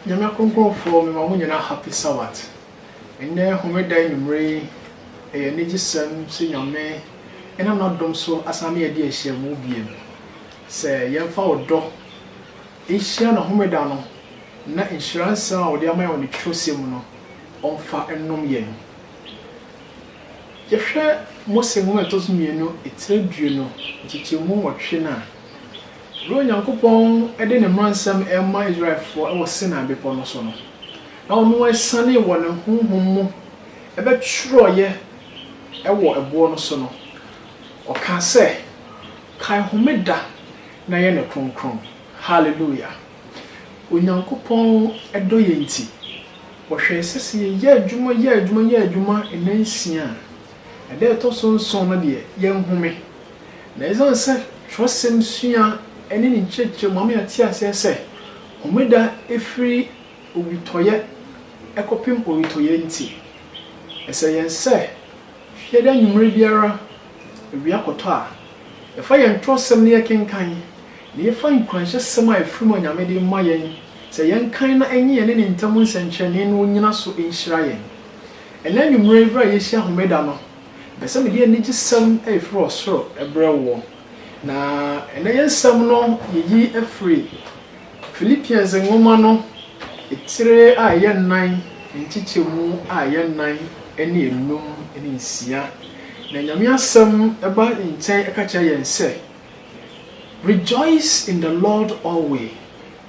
Nyame akronkronfoɔ mema mo nyinaa happy Sabbath. Ɛnnɛ homeda anwumerɛ yi, ɛyɛ anigyesɛm sɛ Nyame nam n'adom so asan ne yɛn adi nhyiamu biom. Sɛ yɛmfa ɔdɔ nhyia no homeda no na nhyira nsɛm a ɔde ama yɛn wɔ ne twerɛsɛm mu no ɔmfa nnom yɛn. Yɛhwɛ Mose nwoma a ɛtɔ so mmienu tire du no nkyekyɛmu nwɔtwe no a, Bere a Onyankopɔn de ne mmaransɛm rema Israelfo wɔ Sinai Bepɔw no so no, na wɔasiane wɔ ne honhom mu bɛtwerɛeɛ wɔ ɛboɔ no so no, ɔkaa sɛ, Kae homeda na yɛ no kronkron. Haleluia! Onyankopɔn dɔ yɛn nti, ɔhwɛe sɛ sɛ yɛyɛ adwuma, yɛ adwuma, yɛ adwuma nnansia a, Ɛda a ɛtɔ so nson no deɛ, yɛnhome. Na ɛsiane sɛ twerɛsɛm sua ne ne nkyerɛkyerɛ mu ama yɛate aseɛ sɛ Homeda firi owitɔeɛ kɔpem owitɔeɛ nti, ɛsɛ yɛn sɛ Fiada anwummerɛ biara awia kɔtɔ a, yɛfa yɛn twerɛsɛm na yɛkenkan, na yɛfa nkuranhyɛsɛm a ɛfiri mu a Nyame de rema yɛn sɛ yɛnkan na ɛnyɛ yɛne Ne ntam nsɛnkyerɛnne no nnyina so nhyira yɛn. Ɛnnɛ anwummere yi bere a yɛrehyia Homeda no, mepɛ sɛ mede anigyesɛm a ɛfiri ɔsoro brɛ woɔ. Na ɛnnɛ yɛn nsɛm no yɛyi firi Philippians nwoma no tire a ɛyɛ nnan, nkyekyɛmu a ɛyɛ nnan ne nnum ne nsia. Na Nyame asɛm ba nkyɛn ka kyerɛ yɛn sɛ, Rejoice in the Lord alway.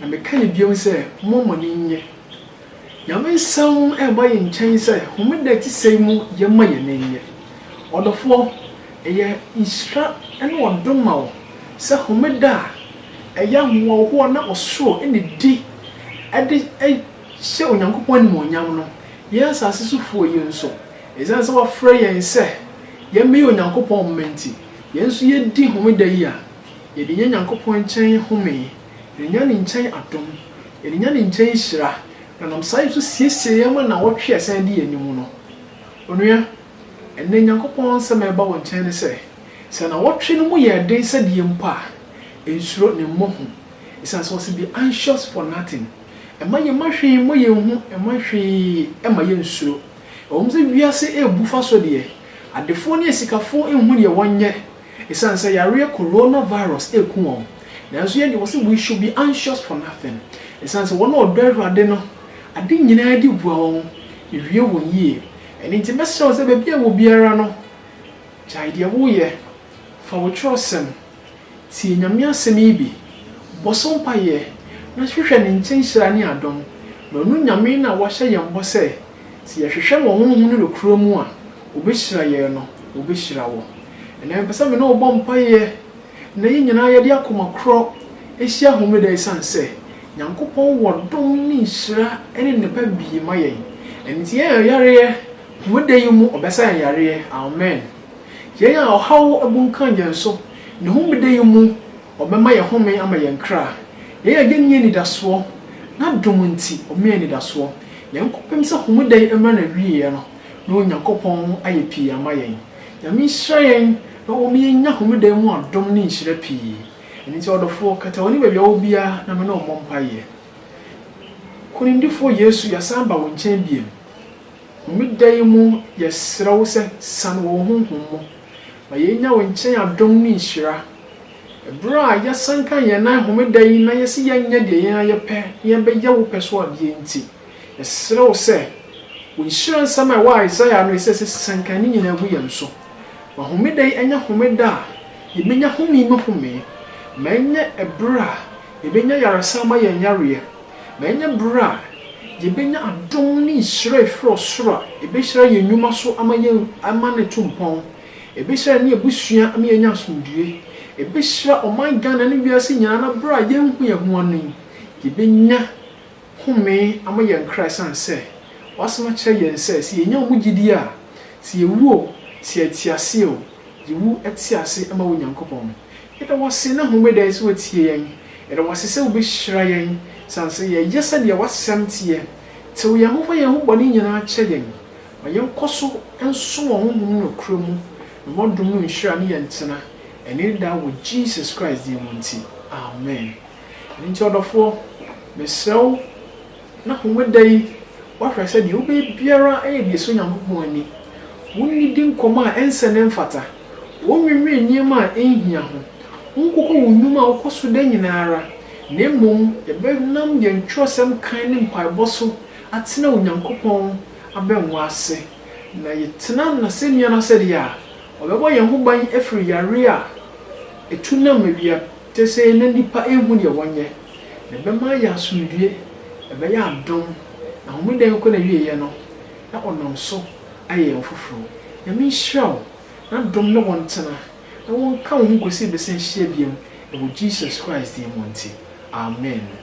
Na meka no bio sɛ, Mo mo ani nnye. Nyame nsɛm reba yɛn nkyɛn sɛ, Homeda a ɛte sɛɛ mu yɛmma yɛn ani nnye. Ɔdɔfoɔ, ɛyɛ nhyira ne ɔdom ma wo sɛ Homeda a ɛyɛ ahoɔhoɔ na ɔsoro ne di de hyɛ Onyankopɔn animuonyam no, yɛn asase so foɔ yi nso, ɛsiane sɛ wafrɛ yɛn sɛ yɛmmɛyɛ Onyankopɔn mma nti, yɛn nso yɛdi Homeda yi a, yɛde nya Nyankopɔn nkyɛn home Yɛrenya ne nkyɛn adom, yɛrenya ne nkyɛn nhyira, na ɔnam saa nso siesie yɛn ma nnawɔtwe a ɛsan di yɛn anim no. Onua, ɛnnɛ Nyankopɔn nsɛm a ɛba wo nkyɛn ne sɛ, sɛ nnawɔtwe no mu yɛ den sɛ deɛ mpo a, nsuro ne mmɔ hu, ɛsiane sɛ ɔse be anxious for nothing. Mma yɛmma hwee mmɔ yɛn hu, mma hwee mma yɛn nsuro. Ɛwɔ mu sɛ wiase ɛrebu fa so deɛ, adefoɔ ne asikafoɔ nhu deɛ wɔnyɛ, Esiane sɛ yareɛ Corona virus reku wɔn, nanso yɛn deɛ wɔse we should be anxious for nothing, esiane sɛ wɔn a wɔdɔ Awurade no, ade nyinaa di bua wɔn, ewie wɔn yie. Ɛno nti mɛsrɛ wo sɛ baabi a ɛwɔ biara no, gyae deɛ woreyɛ, fa wo twerɛsɛm, tie Nyame asɛm yi bi, bɔ so mpaeɛ, na hwehwɛ Ne nkyɛn hyira ne adom, na ɔno Nyame na wahyɛ yɛn bɔ sɛ, Sɛ yɛhwehwɛ wɔ honhom ne nokorɛ mu a, wɔbɛhyira yɛn no, wɔbɛhyira wo. Ɛnnɛ mepɛ sɛ me ne wo bɔ mpaeɛ na yɛn nyinaa yɛde akoma korɔ hyia Homeda ɛsiane sɛ Nyankopɔn wɔ dom ne nhyira ne nnepa pii ma yɛn. Ɛnti yɛn a yareɛ, Homeda yi mu ɔbɛsa yɛn yareɛ. Amen. Yɛn a ɔhaw abunkam yɛn so, ne Homeda yi mu Ɔbɛma yɛn home ama yɛn kra. Yɛn a yɛnni anidasoɔ, N'adom nti ɔmee anidasoɔ. Yɛn kɔpem sɛ homeda yi mmra n'awieɛ no, na Onyankopɔn ayɛ pii ama yɛn. Nyame nhyira yɛn na ɔma yɛnya homeda yi mu adom ne nhyira pii. Ɛno nti ɔdɔfoɔ, kata w'ani baabi a wɔ biara na me ne wo mmɔ mpaeɛ. Nkunimdifoɔ Yesu, yɛasan aba wo nkyɛn biom. Homeda yi mu yɛsrɛ wo sɛ, sane wɔ wo honhom mu. Ma yennya wo nkyɛn adom ne nhyira. Bere a yɛsan ka yɛn nan Homeda yi na yɛse yɛrenyɛ deɛ yɛn ara yɛpɛ na yɛbɛyɛ wo pɛ so adeɛ nti, yɛsrɛ wo sɛ, wo nhyira nsɛm a ɛwɔ Isaiah no ɛsɛ sɛ siankan ne nyinaa gu yɛn so. Ma Homeda yi nyɛ Homeda a yɛbɛnya home mu home. Ma ɛnyɛ bere a yɛbɛnya yaresa ama yɛn yareɛ. Ma yɛnyɛ ber a yebenya adom ne nhyira a efi ɔsor a ebehyira hɛn nnwuma so ama yɛn ama no etu mpɔn, ebehyira hɛn ebusua ama yenya asomdwee, ebehyira ɔman Ghana ne wiadze nyina na ber a yennhu hɛn ho ano yi, yebenya home ama hɛn kra esian sɛ W'Asɛm akyerɛ hɛn sɛ, sɛ yenya wo mu gyedie a, sɛ yewu o, sɛ yɛtse ase o, yewu tse ase ma wo Nyankopɔn. Yɛda wo ase nnɛ Homeda yi sɛ woatie yɛn. Yɛda wo ase sɛ wobɛhyira yɛn sane sɛ yɛyɛ sɛdeɛ w'asɛm teɛ. Tew yɛn ho fa yɛn ho bɔne nyinaa kyɛ yɛn. Ma yɛnkɔ so nsom wɔ Honhom nokorɛ mu, na ma w'adom mu nhyira ne yɛn ntena ɛnnɛ ne daa wɔ Jesus Christ din mu nti, amen. Ɛno nti ɔdɔfoɔ, mesrɛ wo Na Homeda yi, woahwɛ sɛ deɛ wobɛyɛ biara yɛ deɛ ɛsɔ Onyankopɔn ani. Wonnidi nkɔmmɔ a ɛnsɛ na ɛmfata. Wonnwennwen nneɛma a ɛnhia ho. Wonkokɔ wo nnwuma a wokɔ so da nyinaa ara, na mmom yɛbɛnam yɛn twerɛsɛm kan ne mpaebɔ so atena Onyankopɔn abɛnwa ase. Na yɛtena N'asɛnnua no asɛdeɛ a, Ɔbɛbɔ yɛn ho ban afiri yareɛ a ɛtu nam awia, Kesee na nnipa nhu deɛ wɔnyɛ, na ɛbɛma ayɛ asomdwoeɛ, ɛbɛyɛ adom, na homeda nkɔ n'awieeɛ no, na ɔnam so ayɛ yɛn foforɔ. Nyame nhyira wo, n'adom ne wo ntena, na wɔnka wo ho kɔsi bɛsan hyia biam, ɛwɔ Jesus Christ din mu nti, amen.